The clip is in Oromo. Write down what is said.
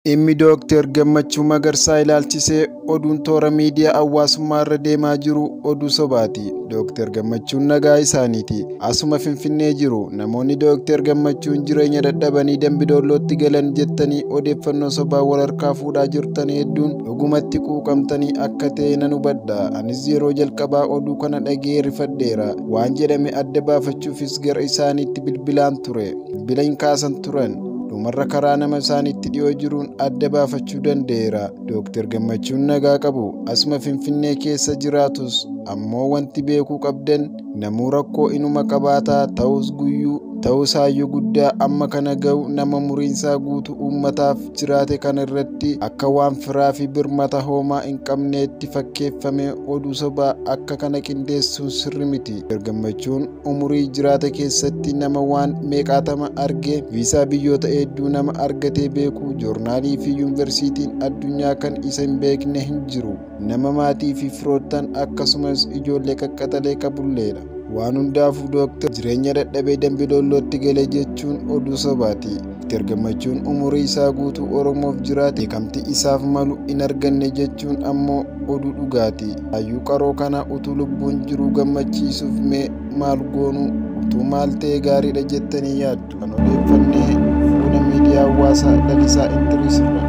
Dhimmi Dooktar Gammachuu Magarsaa ilaalchisee oduun toora miidiyaa hawaasummaa irra deemaa jiru oduu sobaati. Dooktar Gammachuun nagaa isaaniiti. Asuma Finfinnee jiru. Namoonni Dooktar Gammachuun jireenya dadhabanii Dambidoollootti galan jettanii odeeffannoo sobaa wal harkaa fuudhaa jirtan hedduun dhugumatti quuqamtanii akka ta'e nan hubadha. Anis yeroo jalqabaa oduu kana dhaga'ee rifadheera. Waan jedhame adda baafachuufis gara isaaniitti bilbilaan ture. bilbila hin kaasan turan. Dhumarra karaa nama isaanitti dhiyoo jiruun adda baafachuu danda'eera. Dooktar Gammachuun nagaa qabu. Asuma Finfinnee keessa jiraatus ammoo wanti beekuu qabdan namuu rakkoo inuma qabaata ta'us guyyuu ta'us hayyuu guddaa amma kana ga'u nama muriinsaa guutuu uummataaf jiraate kana irratti akka waan firaa fi birmata hoomaa hin qabneetti fakkeeffamee oduu sobaa akka kana qindeessuun sirri miti. Dooktar Gammachuun umurii jiraate keessatti nama waan meeqaatama argee viisaa biyyoota hedduu nama argatee beeku joornaalii fi yuunivarsiitiin addunyaa kan isa hin beekne hin jiru nama maatii fi firoottan akkasumas ijoollee qaqqaxalee qabulleedha waan hundaafuu dooktar jireenya dadhabee dambiloollootti gale jechuun oduu sobaati Dooktar Gammachuun umurii isaa guutuu Oromoof jiraate beekamtii isaaf malu hin arganne jechuun ammoo oduu dhugaati. Hayyuu qaroo kana utuu lubbuun jiruu gammachiisuuf mee maal goonuu utuu maal ta'e gaariidha jettanii yaaddu? Kan odeeffannee fuula miidiyaa hawaasaa Lalisaa Indiriis irraa.